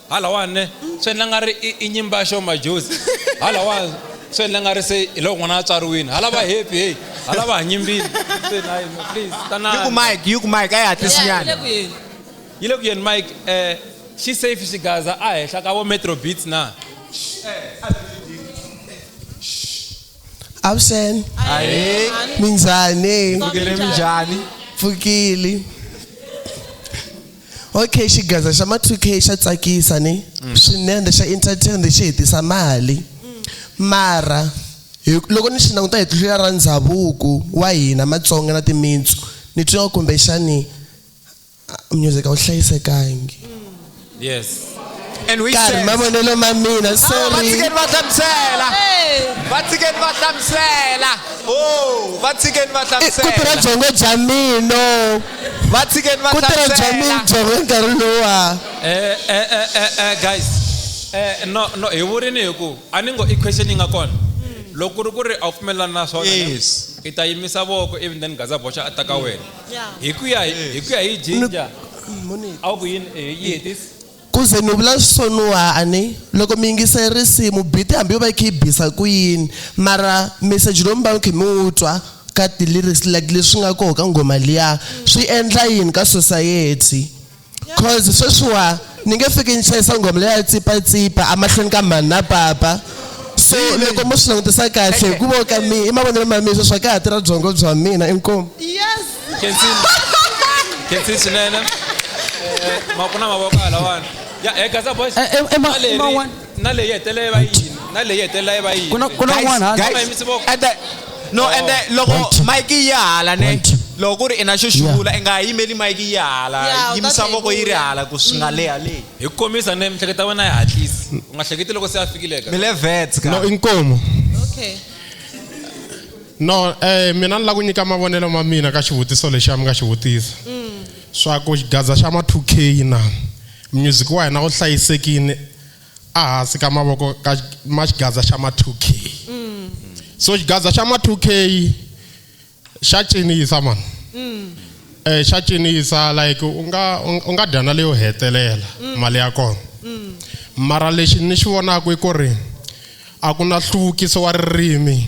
Halawa ne swi endla nga ri i nyimba ya xo majozi halawa swi endla nga ri se hi loko n'wana a tswariwini hala va happy heyi hala va ha nyimbile se na yini please tanani yi ku mike yi ku mike a yi hatlisi nyana yi le ku yeni mike eh xi safe xigaza a henhla ka vo metro beats na Avuxen. Ahee. Minjhani? Pfukile minjhani? Pfukile. Okay xigaza xa ma 2K xa tsakisa ni mm. swinene xa entertain xi hetisa mali mm. mara loko ni xi languta hi tihlo ra ndhavuko wa hina Matsonga na timitsu ni twa kumbexani music a wu hlayisekangi mm. yes And we karhi said, mavonelo ma mina Ava va sorry tshikeni va hlamusela va tshikeni va hlamusela o va tshikeni va I- ku tirha hlamusela byongo bya mina va tshikeni va ku tirha bya hlamusela mina byongo hi nkarhi luwa Eh, eh, eh, eh, eh, guys eh, no no hi vurini hi ku a ni ngo i question yi nga kona loko ku ri ku ri a wu pfumelelani na swona Yes. i ta yimisa voko even then gaza boxa a ta ka wena hi ku ya hi hi ku ya hi jinja a wu ku yini eh, yi hetisi ku ze ni vula switsoniwa a ni loko mi yingise risimu biti hambi yo va yi kha yi bisa ku yini mara meseji lowu mi va mi kha mi wu twa ka ti-lyrics like leswi nga koho ka nghoma liya swi endla yini ka society cause sweswiwa ni nge fiki ni chayisa nghoma leya tsipatsipa amahlweni ka mhani na papa so loko mo swi langutisa kahle hi ku vo ka mi i mavonelo ma mina sweswi a ka ha tirha byongo bya mina inkomu khensi swinene Eh, ma ku na mavoko halawani ya eh, gaza boys Eh, eh, eh, ma- Maleri. ma one. na leyi hetelela yi va yini na leyi hetelela yi va yini Ku na- ku na Guys, un'wana hansi. guys, Mama, yimise voko. and the- no and the- loko One, two. mike yi ya hala ne One, two. loko ku ri i na xo xivula i nga ha yimeli mike yi ya Yeah, hala u ta yimisa tlhela voko yi ri vuya. hala ku swi nga leha leyi hi ku komisa ne mihleketa wena yi hatlisi u nga hleketi loko se a fikile ka mi le vets ka no inkomo okay no eh mina ni la ku nyika mavonelo ma mina ka xivutiso lexi a mi nga xi vutisa Swa ku xigaza xa ma 2 key na. Music wa hina wu hlayisekile ahasi ka mavoko ka ma xigaza xa ma 2 key. So xigaza xa ma 2 key xa cinisa mani. Eh xa cinisa like u nga u nga dya na leyo hetelela mali ya kona. Mara lexi ni xi vonaka i ku ri a ku na hluvukiso wa ririmi.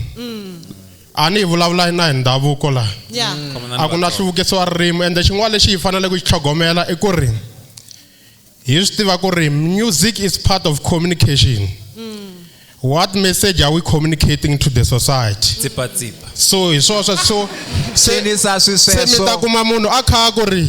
a ni hi vulavula na hi ndhavuko laha Yeah. Mm. Khomana ni a ku na vatsongo. hluvukiso wa ririmi ende xin'wana lexi hi faneleke ku xi tlhogomela i ku ri hi swi tiva ku ri music is part of communication what message are we communicating to the society tsipatsipa so hi swoswo so se Cinisa swi se mi sweswo. ta kuma munhu a kha a ku ri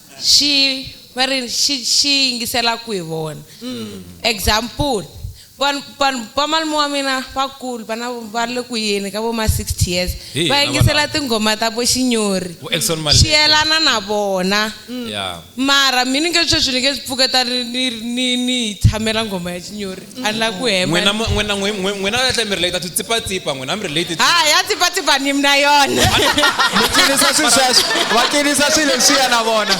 xi va ri xi xi yingisela ku hi vona example vanhu vanhu va malume wa mina vakulu vana va le ku yeni ka vo ma 60 years Hi va hina yingisela valava. tinghoma ta vo xinyori Vo Exxon Malete. swi yelana na vona Yeah. mara mi ni nge sweswi ni nge swi pfuketa ni ni ni ni yi tshamela nghoma ya xinyori a ni la ku hemba n'wina mu- n'wina n'wi- n'wi- n'wina va tlhe mi relate ti tsipatsipa n'wina mi relate ti- ha ya tsipatsipa ni mina yona mi cinisa swilo sweswo va cinisa swilo leswiya na vona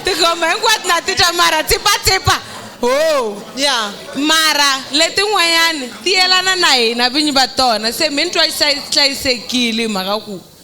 tigoma hinkwato na ti twa mara tsipatsipa ho ya mara letin'wanyani ti yelana na hina vinyi va tona se mi ni twa hlayi- hlayisekile hi mhaka ku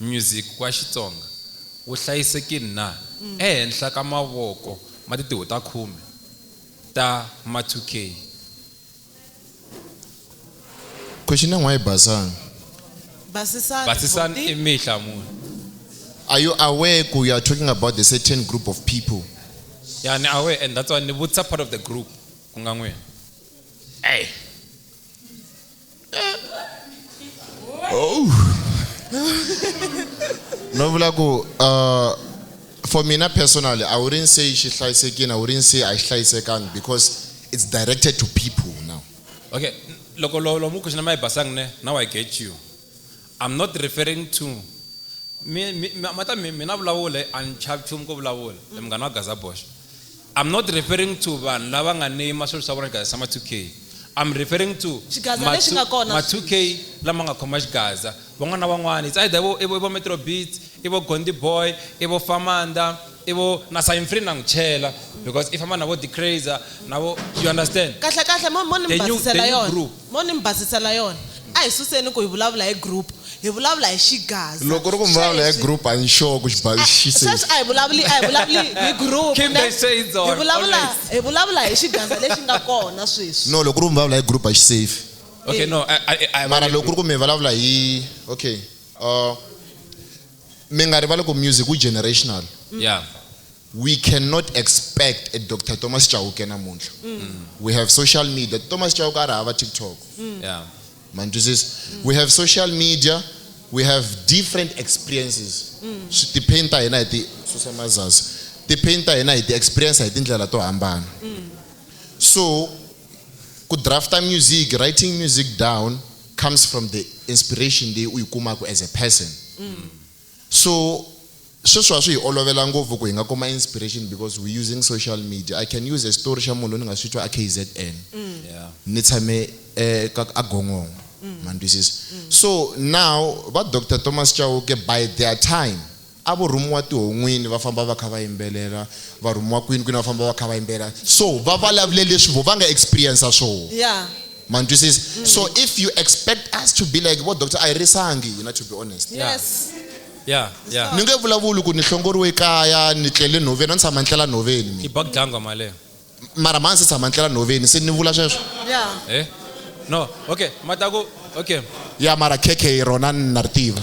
Music wa Xitsonga wu hlayisekile na ehenhla ka mavoko ma titiho ta khume ta Matukei? Question ya n'wa yi basanga. Basisani Basisani buti. i mihla mune. Are you aware ku you are talking about the certain group of people? Ya ni aware and that's why ni vutisa part of the group ku nga n'wina. Ey! oh no vula ku uh, for mina personally i wouldn't say xi hlayisekile i wouldn't say a xi hlayisekangi because it's directed to people now okay loko lomu ku xina ma yi basanga ne now i get you i'm not referring to mata mina vulavula a ni chavi nchumu ko vulavula munghana wa gaza boxa I'm not referring to vanhu lava nga ni ma swilo swa vona xigaza xa ma 2K. I'm referring to Xigaza ma lexi two- nga kona ma 2K lama nga khoma xigaza. Van'wana na van'wana it's either i vo i vo i vo Metro Beats, i vo Gondi Boy, i vo Famanda, i vo na Sign Free na n'wi chela because i famba na vo D'Crazer na vo you understand. Kahle kahle mo mo ni mi They knew basisela they knew yona. group. Mo ni mi basisa na yona. A hi suseni ku hi vulavula hi group, hi vulavula hi xigaza. Loko ku ri ku mi vulavula hi group, a ni sure ku xi basisi. Sweswi a hi vulavuli, a hi vulavuli hi group, ne? Kimberly shades on, always. Hi vulavula hi xigaza lexi nga kona sweswi. No, loko ku ri ku mi vulavula hi group a xi safe. Okay, no, a, a, a hi. Mara loko ku ri ku mi vulavula hi. Okay, uh, mi nga rivali ku music wu generational. Yeah. We cannot expect a Dr. Thomas Chauke namuntlha. Mm. We have social media. Thomas Chauke a ri hava TikTok. Mm. Yeah. Ma mm. We have social media. We have different experiences. Mm. Swi depend ta hina hi ti susa mazazi. Depend ta hina hi ti experience hi tindlela to hambana. Mm. So ku drafta music, writing music down comes from the inspiration leyi u yi kumaka as a person. Mm. So sweswi a swi hi olovela ngopfu ku hi nga kuma inspiration because we using social media. I can use a story xa munhu loyi ni nga swi twa a KZN ni tshame eka a Gongongo ma ni twisisa. So now va Doctor Thomas Chauke by their time a vo rhumiwa tihon'wini va famba va kha va yimbelela, va rhumiwa kwini kwini va famba va kha va yimbelela. So va vulavule leswi voho va nga experience-a swoho. ma ni twisisa mm. so if you expect us to be like vo doctor a hi risangi hina to be honest yes. yeah. Yeah. ni nge vulavuli ku ni hlongoriwe ekaya ni tlele nhoveni a ni tshama ni tlela nhoveni ibagdangwa maleyo mara mani se tshama ni tlela nhoveni se ni vula sweswo eh? no okay mataku okay ya mara khekhe rona ni na ri tiva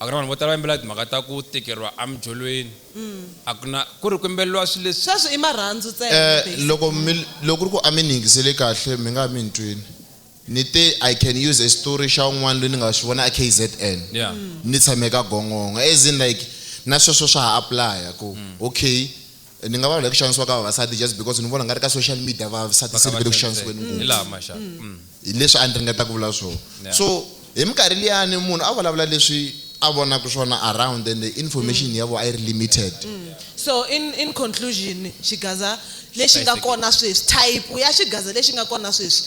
A ku na vanhu vo tala va yimbelaka timhaka ta ku tikeriwa emidyolweni. A ku na ku ri ku yimbeleriwa swilo leswi. Sweswo i marhandzu ntsena, Eh, basically. loko mi, loko ku ri ku a mi ni yingisele kahle, mi nga ha mi ni twile. Ni te, I can use a xitori xa un'wana loyi ni nga xi vona eKZN. Yeah. Ni tshame ka Gongongo. As in like, na sweswo swa ha apply-a ku, okay, ni nga va hi ku xanisiwa ka vavasati just because ni vona nga ri ka social media vavasati se vele ku xanisiweni ngopfu mm. hi leswi a ni ringeta ku vula swona so hi minkarhi liyani munhu a vulavula leswi a vonaka swona around and the information ya vo a yi ri limited mm. so in in conclusion xigaza lexi nga kona sweswi type ya xigaza lexi nga kona sweswi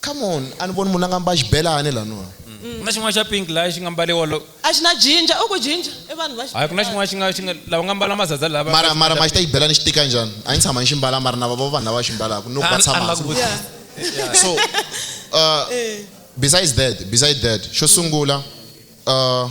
Come on, a ni voni munhu la nga mba xibelani la no. Ku na xin'wana xa pink laya xi nga mbaliwa lo. A xi na jinja, u ku jinja i vanhu va Hayi ku na xin'wana xi nga xi nga lava nga mbala mazaza lava. Mara mara ma xi ta xibelani xi tika njhani? A ni tshama ni xi mbala mara na va vona vanhu lava xi mbalaka no va tshama hansi ku Yeah. So uh besides that besides that xo sungula uh.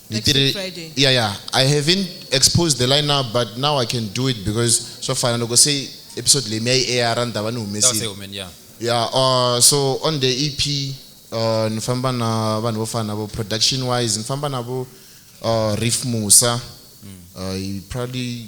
Next week Nitiri- Friday. yeah yeah i haven't exposed the line now but now i can do it because swa fana loko se episode leyi mi ya yi air ni ta va ni That was a humesile woman, yeah. yeah uh, so on the ep uh, ni famba na vanhu vo fana vo production wise ni famba na vo uh, riff musa uh, he probably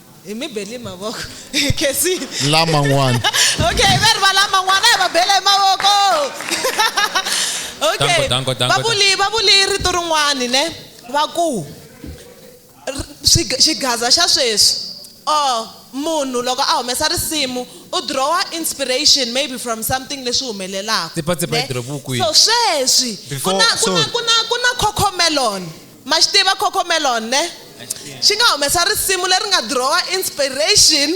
hi mi bele mavoko kasi laman'wana okay va ri va laman'wana hi va bele hi mavoko okay va vuli va vuli rito rin'wani ne va ku xigaza xa sweswi or munhu loko a humesa risimu u drawa inspiration maybe from something leswi humelelaka so sweswi ku na ku na ku na ku na cocomelon Ma xi tiva Cocomelon, ne? Xi nga humesa risimu leri nga drawer inspiration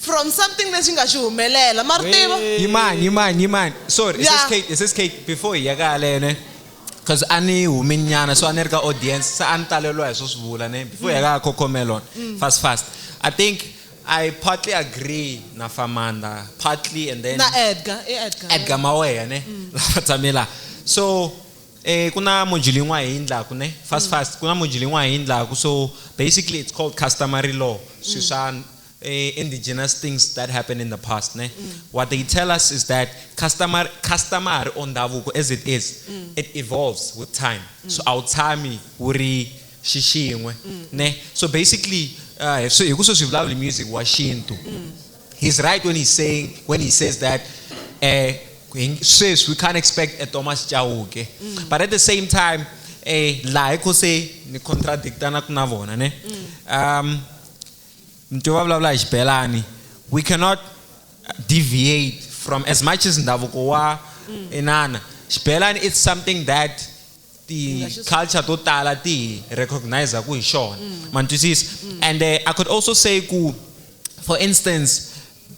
from something lexi nga xi humelela. Ma ri tiva? Yimani, yimani, yimani. Sorry, Yeah. SS Kate, SS Kate, before hi ya ka yaleyo, ne? Cause a ni humi nyana, so a ni ri ka audience, se a ni taleriwa hi swo swi vula, ne? Before hi ya ka Cocomelon, fast, fast. I think I partly agree na Famanda, partly and then. Na Edgar, i Edgar. Edgar Maweya, ne? Lava tshame la. So, Eh, ku na module yin'wana hi endlaku ne fast fast ku na module yin'wana hi endlaku so basically it's called customary law swi mm. swa eh, indigenous things that happened in the past ne mm. what they tell us is that customer customary or ndhavuko as it is mm. it evolves with time so a wu tshami wu ri xixin'we ne so basically uh, hi ku swo swi vulavula music wa xintu He's right when he's saying when he says that uh, sweswi we can't expect a Thomas Chauke. Mm. But at the same time, eh, laha ko se ni contradictana na vona ne. Mm. Um, nto va vulavula hi xibelani we cannot deviate from as much as ndhavuko wa mm. inana xibelani it's something that ti-culture to tala ti hi recognizaku hi xona mm. ma twisisa mm. and uh, i could also say ku for instance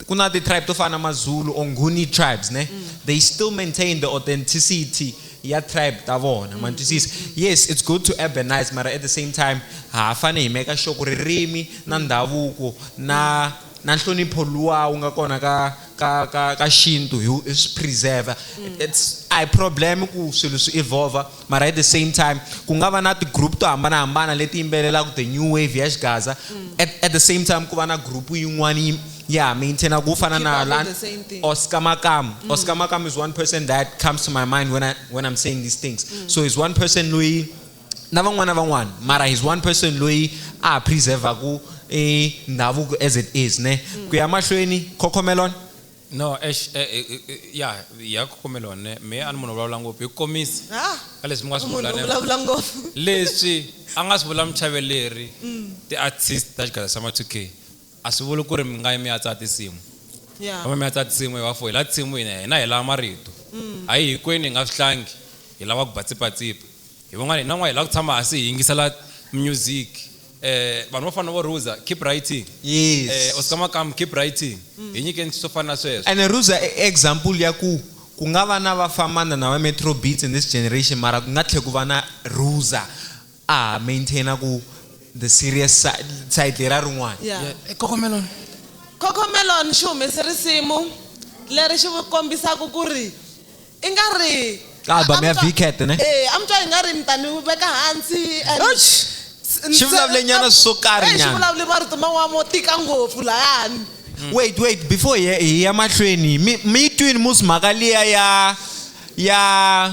ku na ti-tribe to fana na mazulu or nguni tribes ne mm. they still maintain the authenticity ya tribe ta vona ma twisisa yes it's good to urbanize mara at the same time ha fane hi meka sure ku ririmi na ndhavuko na na nhlonipho luwa wu nga kona ka ka ka ka xintu hi hi swi preserve it's a hi problem ku swilo swi evolve mara at the same time ku nga va na ti-group to hambanahambana leti yimbelelaka the new wave ya xigaza at, at the same time ku va na group yin'wana yi ya maintaina ku fana na la oscar makamu mm. oscar makamu is one person that comes to my mind when, I, when i'm saying these things mm. so is one person loyi na van'wana van'wana mara he's one person loyi a preservaku e ndhavuko as it is ne mm. ku ya mahlweni cocomelon no ex eh, eh, eh, ya ya cocomelon ne me a ni munhu vulavula ngopfu hi komisi ah, ka leswi mi nga swi vulavula ngopfu leswi a nga swi vula muchaveleri mm. ti-artist ta xigada xa ma-2k A swi vuli kuri mi nga yi mi ya tsala tinsimu. Kambe mi ya tsala tinsimu hi va four hi la tinsimu hina hina hi lava marito. A hi hikwenu hi nga swi tlangi hi lava ku ba tsipatsipa. Hi van'wana hina van'wana hi lava ku tshama hansi hi yingisela music. Vanhu vo fana na vo Ruza keep writing. Oscar Makamu keep writing. Hi nyikeni swo fana na sweswo. Ene Ruza i example ya ku ku nga va na va Famanda na va Metro Beats in this generation mara ku nga tlhe ku va na Ruza. A maintainer ku the serious side, side lera rin'wana. Yeah. Yeah, e Cocomelon. Cocomelon xi humese risimu leri xi kombisaku ku ri i nga ri Ka album ya Vcat ne? E, a mi twa i nga ri mi ta ni veka hansi and Ouch! s- Xi vulavule nyana swo karhi Eh, xi nyana. vulavule marito man'wana mo tika ngopfu lahani Wait, wait, before hi ya- hi ya mahlweni, mi mi yi twini musi mhaka liya ya ya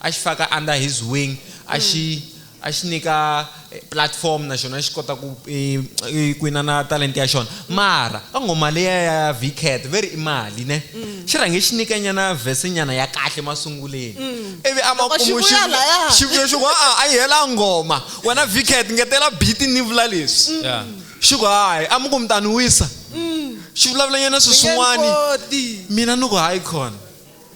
a xi faka under his wing a mm. xi a xi nyika eh, platform na xona xi kota ku eh, eh, ku inana talenta ya xona mara ka nghoma leya ya vcat ve ri i mali ne mm. xi rhange xi nyikanyana vhesenyana ya kahle masunguleni mm. ivi a makumu xivuyo xi ku a a yi hela nghoma wena vcat ngetela biti ni vula leswi xi ku hayi a mi ku mi ta ni wisa xi vulavulanyana sweswin'wani mina ni ku hayi khona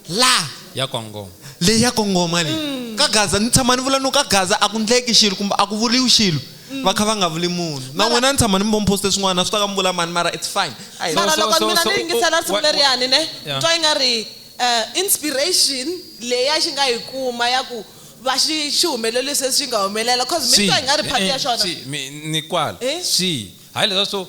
la ya kongoma leyi ya kongoma leyi mm. ka gaza ni tshama ni vula no ka gaza a ku ndleki xilo kumbe a ku vuriwi xilo mm. va kha va nga vuli munhu na n'wina ni tshama ni mbomphoste swin'wana swi ta ka mi vula mani mara it's fine mara loko mina ni yingisela risimu leriyani ne twa yi nga ri eh, inspiration leyi a xi nga yi kuma ya ku va xi xi humelelisi leswi xi nga humelela cause mi twa yi nga ri phati ya eh, xona ni kwala swi eh? hayi leswa so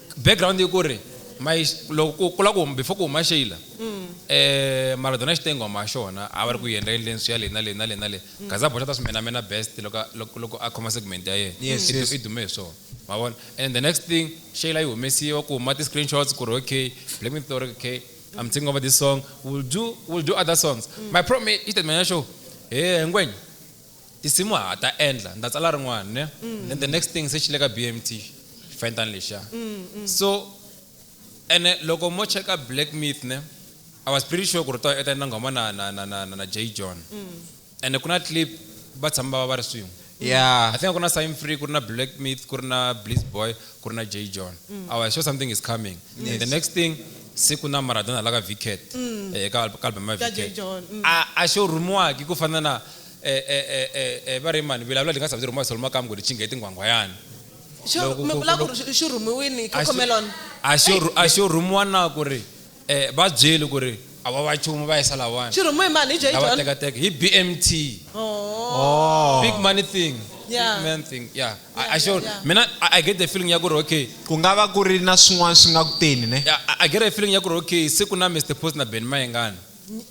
Background i ku ri my loko ku ku la ku before ku huma Sheila mara dona xitenghwa ma xona a va ri ku yi endla endleni swi ya le na le na le na le Gaza Boxa ta swi menamena best loko loko loko a khoma segment ya yena i dume hi swona ma vona and the next thing Sheila yi humesiwa ku huma ti screenshots ku ri okay Black Myth u ri okay I'm taking over this song will do will do other songs my problem i xitatimende xa xona hee Ngwenya. tinsimu ha ta endla ni ta tsala rin'wana ne then the next thing se xi le ka BMT xifanyetana lexiya so ene loko mo cheka Black Myth ne I was pretty sure ku ri u ta u ta endla nghoma na na na na na Jay John ene ku na clip va tshama va va va ri swin'we Yeah. I think a ku na Sign Free ku ri na Black Myth ku ri na Blizz Boy ku ri na Jay John I was sure something is coming and the next thing se ku na Maradona la ka Vcat eh, ka al- ka album ya Ka Jay Vcat John, mm. a a xo rhumiwaki ku fana na E, e, e, e, e, va ri mani vilavula lingasa byi rhumiwa soloma kambe ku ri cingeti nghwangwayani Xo- Loko mi ku- vula ku ku- ri xi- xi rhumiwini A xi- cocomelon a xo rhu- a xo rhumiwa na ku ri um va byeli ku ri a va va chumu va yisa lawani xi rhumiwe hi mani hi j lava john tekateka hi bmt Oh. big money thing Yeah. big man thing yeah, Yeah, I, I, sure, yeah, yeah. mina I, I get the feeling ya ku ri okay ku nga va ku ri na swin'wana swi nga ku teni ne yeah, I, I get a feeling ya ku ri okay se ku na mr post na ben mayengani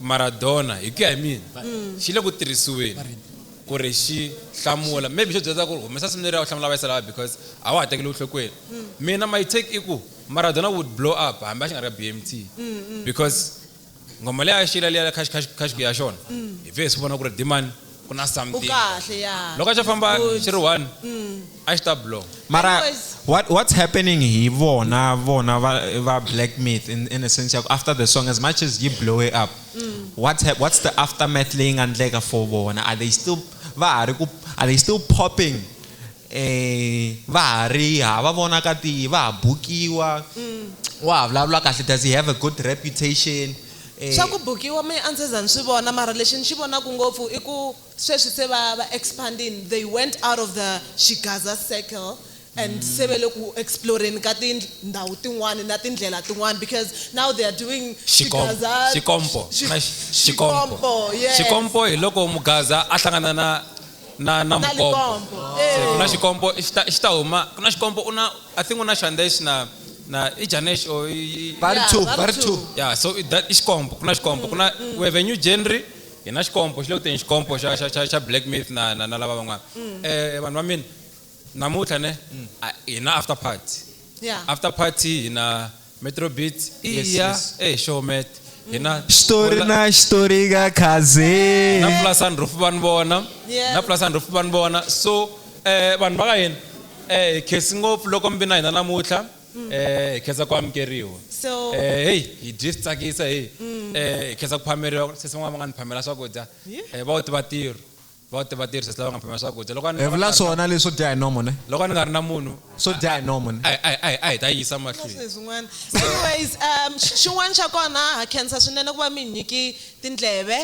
Maradona hi ku ya hi mina xi le ku tirhisiweni ku ri xi hlamula maybe xo byela ku humesa simu leriya u hlamula vayisa lava because a wa ha tekeli enhlokweni mina my take i ku Maradona would blow up hambi a xi nga ri ka BMT because nghoma leyi a yi xiyile liya ya khaxikhaxikhaxi ya xona hi pfe hi swi vona ku ri demand ku na something u kahle ya loko xo famba xi ri one mm. a xi ta blow mara what what's happening hi vona vona va va black myth in, in a sense ya after the song as much as you blow it up mm. what's what's the aftermath leyi nga ndleka for vona are they still va ha ri ku are they still popping va ha ri hava vona ka tihi va ha bukiwa wa ha vulavula kahle does he have a good reputation swa ku bukiwa mehe a ndzi za ni swi vona mara lexi ni xi vonaku ngopfu i ku sweswi se va va expandini they went out of the Xigaza circle and se va le ku exploreni ka tindhawu tin'wani na tindlela tin'wani because now they are doing Xigaza Xikompo Xikompo Xikompo hi loko Mugaza a hlangana na na na Na mukombo likompo. Se, ku na Eh. xikombo xi ta- xi ta huma ku na xikombo u na i think u na xandex na na i janex or i- i- Va ri Yeah, two, va ri va ri two. two. ya so i that- i xikombo ku na xikombo ku na we have a new genre hi na xikombo xi le ku teni xikombo xa xa xa xa black myth na na na lava van'wana Mm. eh vanhu va mina namuntlha ne a- hi na after party Yeah. after party hi na Metro Beats. Yes, Iya. yes. Hey, Showmet. Hina. xitori na xitori ka khaze na plus and roof van vona Yes. na plus and roof van vona so eh vanhu va ka hina eh hi khesi ngopfu loko mi vi na hina namuntlha eh hi khensa ku amukeriwa So- eh hey hi dyi swi tsakisa hey eh hi khensa ku phameriwa sesi van'wana va nga ni phamela swakudya eh va wu tiva tirho va ti va tirhisa lava nga phamela swakudya loko hi vula swona leswo dya hi nomo ne loko ni nga ri na munhu swo dya hi nomo ne a hi ta yisa mahlweni swin'wana anyways um xin'wana xa kona ha khensa swinene ku va mi nyiki tindleve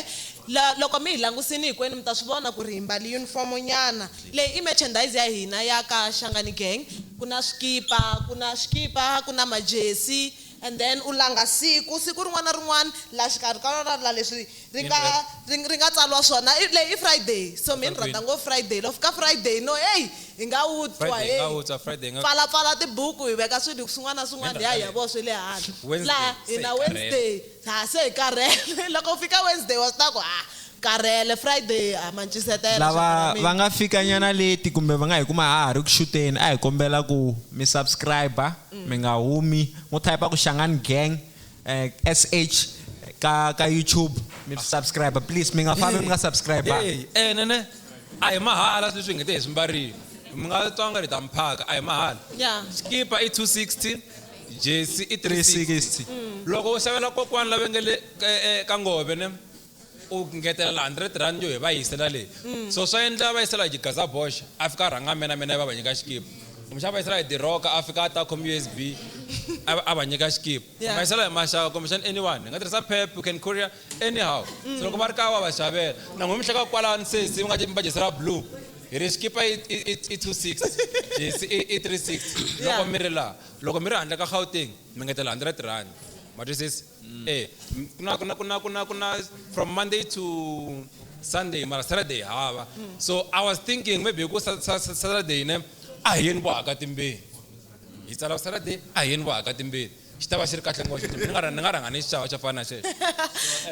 loko mi hi langusini hinkwenu mi ta swi vona ku ri hi mbali uniform nyana leyi i merchandise ya hina ya ka xangani gang ku na swikipa ku na swikipa ku na majesi And then u langa siku, siku rin'wana na rin'wana la xikarhi ka rona la leswi ri nga ri ri nga tsariwa swona i leyi i Friday so mehe ni rhandza ngopfu Friday loko fika Friday no heyi hi nga wu twa heyi pfala pfala tibuku hi veka swilo swin'wana na swin'wana hi ya hi ya vona swe le handle laha hina Wednesday ha se hi karhele loko fika Wednesday wa swi tiva ku ha Karhele, Friday a ma ncisetela lava xaka ra va mina. nga fika nyana leti kumbe va nga hi kuma ha ha ri ku xuteni a hi kombela ku mi subscribe mi nga humi ngo type ku Shangani Gang eh, SH ka ka YouTube mi swi subscribe please mi nga fambi mi nga subscribe Hey, eh nene a hi mahala sweswi hi ngete hi swi mbarile mi nga twa nga ri ta mi phaka a hi mahala Ya. xikipa i 260 jesi i 360 360 loko u xavela kokwani lava nge le ka- eh, ka ngove ne u ngetela la 100 rand yo hi va yisela le so swa endla va yisela hi xigaza bosh a fika a rhanga mina mina yi va va nyika xikipa kumbexana va yisela hi diroka a fika a ta khome usb a va- a va nyika xikipa Yeah. va yisela hi maxaka kumbexana anyone hi nga tirhisa pep you can courier anyhow so loko va ri kaya wa va xavela na n'we mi hleka kwalani sesi mi nga mi va dyisela blue hi ri xikipa i- i- i- i 26 jesi i i 36 loko Yeah. mi ri laha loko mi ri handle ka gauteng mi ngetela 100 rand ma twisisa mm. eh kuna kuna kuna kuna kuna from monday to sunday mara saturday hava mm. so i was thinking maybe ku saturday ne a hi yeni vo haka timbeni hi tsala saturday a hi yeni vo haka timbeni xi ta va xi ri kahle ngopfu ni nga ni nga rhanga ni xixava xa fana xexo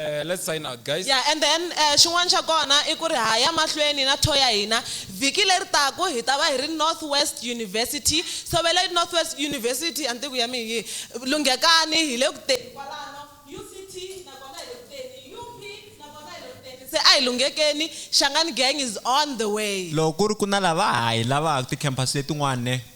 eh, let's sign out guys yeah and then eh, xin'wana xa kona i ku ri ha ya mahlweni na tho ya hina Vhiki leri taku hi ta va hi ri Northwest University. Ntshovelo i Northwest University a ni tivi ku ya mi hi yihi. Lunghekani, hi le ku teni kwalano. UCT na kona hi le ku teni. UP na kona hi le ku teni. Se a hi lunghekeni, Shangani Gang is on the way. Loko ku ri ku na lava ha yi lavaka, ti-campus letin'wana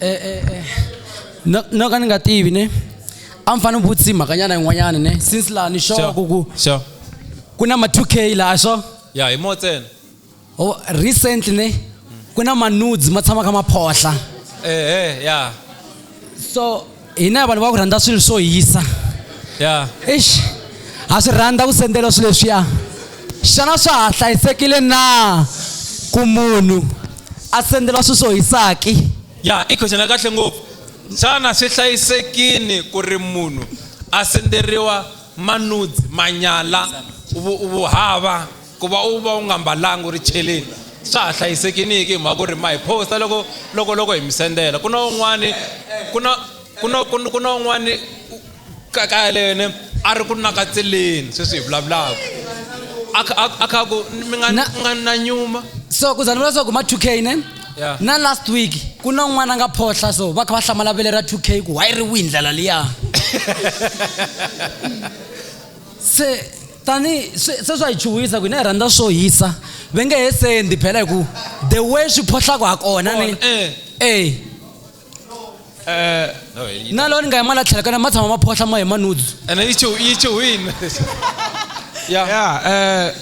eh, eh, eh. no no ka ni nga tivi ne a mi fanele vutisi mhakanyana yin'wanyana ne since laha ni xoku ku sure ku na ma 2 k laha swo ya hi mo ntsena oh, recently ne ku na manudes ma tshama kha ma phohla ehe ya so hina vanhu va ku rhandza swilo swo hisa ya eish ha swi rhandza ku sendela swilo leswiya xana swa ha hlayisekile na ku munhu a sendela swilo swo hisaki ya i question ya kahle ngopfu xana swi hlayisekini ku ri munhu a senderiwa manudzi manyala vu- vuhava ku va u va u nga mbalanga u ri cheleni swa ha hlayisekiniki hi mhaka ku ri ma hi posta loko loko loko hi mi sendela ku na un'wani ku na ku na ku ku na un'wani ka kaya lene a ri ku nakatseleni sweswi hi vulavulaka a kha a kha ku mi nga mi nga na nyuma so ku za ni vula swa ku ma two k ne na last week ku na un'wana a nga phohla so va kha va hlamala vele ra two k ku why ri wihi ndlela liya se tani se swa hi chuhisa ku hina hi rhandza swo hisa ve nge he sendi phela hi ku the way swi phohlaka ha kona ni eh. eh eh na loko ni nga yi mala tlhela kana ma tshama ma phohla ma hi manudzu ene yi chu yi chuhini ya ya eh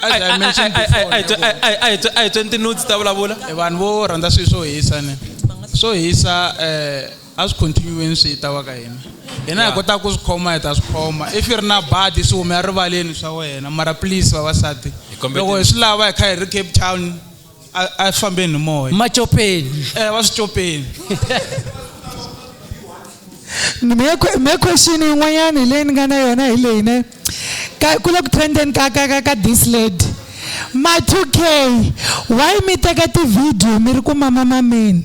a hi twentinudzi ta vulavula vanhu vo rhandza swilo swo hisa ni swo hisa um a swi continue-weni swi ta wa ka hina hina hi kotaka ku swi khoma hi ta swi khoma if yi ri na badi swi hume erivaleni swa wena mara please vavasati loko hi swi lava hi kha hi ri cape town a swi fambeni hi moya macopeni um eh, va swi copeni me question yin'wanyana hi leyi ni nga na yona hi leyi ne ku le ku trendeni ka ka ka ka this lady ma 2 k why mi teka tivhidiyo mi ri ku mama mameni